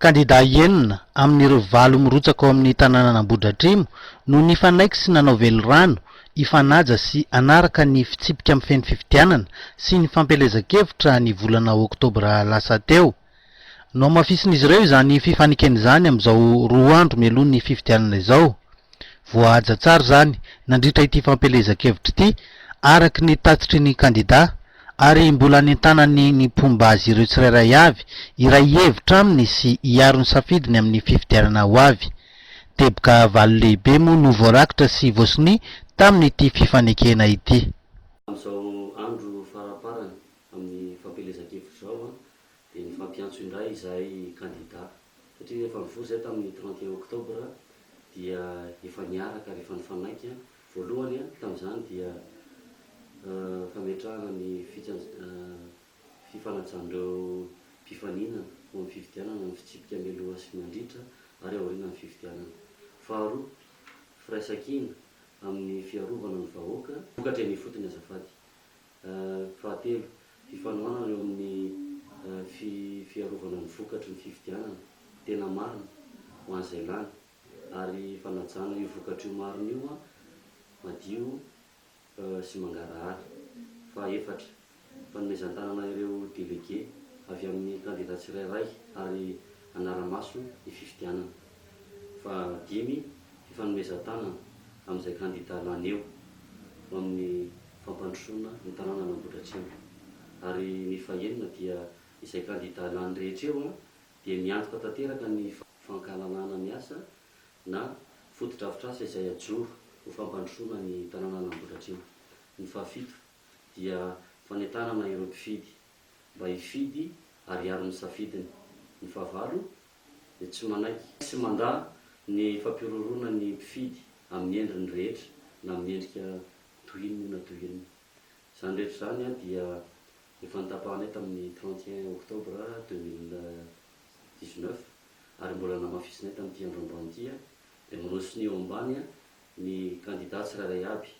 Kandidà enina amin'ireo valo mirotsaka ao amin'ny tanànan'Ambohidratrimo no nifanaiky sy nanao velirano hifanaja sy hanaraka ny fitsipika mifehy ny fifidianana sy ny fampielezan-kevitra ny volana oktobra lasa teo. Nohamafisin'izy ireo izany fifanekena izany amin'izao roa andro mialoha ny fifidianana izao. Voahaja tsara izany nandritra ity fampielezan-kevitra ity araka ny tatitry ny kandidà ary mbola nentanany ny mpomba azy ireo tsirairay avy hiray hevitra aminy sy hiaro ny safidiny amin'ny fifidianana ho avy. Teboka valo lehibe moa no voarakitra sy voasonia tamin'ity fifanekena ity. Amin'izao andro faramparany amin'ny fampielezan-kevitra izao dia nifampiantso indray izahay kandida satria rehefa nivory izahay tamin'ny trente et un octobre dia efa niaraka ary efa nifanaiky voalohany tamin'izany dia fametrahana ny fifanajan'ireo mpifaninana ho amin'ny fifidianana ny fitsipika mialoha sy mandritra ary aorianan'ny fifidianana. Faharoa, firaisankina amin'ny fiarovana ny vahoaka. Vokatra eny ifotony azafady. Fahatelo, fifanohanana eo amin'ny fiarovana ny vokatry ny fifidianana tena marina ho an'izay lany ary fanajana io vokatra io marina io madio sy mangarahara. Fahefatra, fanomezan-tanana ireo delege avy amin'ny kandida tsirairay ary hanara-maso ny fifidianana. Faha dimy, fifanomezan-tanana amin'izay kandida lany eo ho amin'ny fampandrosoana ny tanànan' Ambohidratrimo. Ary ny faha enina dia izay kandida lany rehetra eo dia miantoka tanteraka ny fankahalàlana ny asa na fotodrafitrasa izay hajoro ho fampandrosoana ny tanànan' Ambohidratrimo. Ny faha fito dia fanentanana ireo mpifidy mba hifidy ary hiaro ny safidiny. Ny faha valo dia tsy manaiky sy mandà ny fampihorohoroana ny mpifidy amin'ny endriny rehetra na amin'ny endrika toy inona na toy inona. Izany rehetra izany dia efa notapahanay tamin'ny trente et un octobre deux mille dix neuf ary mbola namafisinay tamin'ity andro ambany ity dia miroso ny eo ambany ny kandidà tsirairay aby.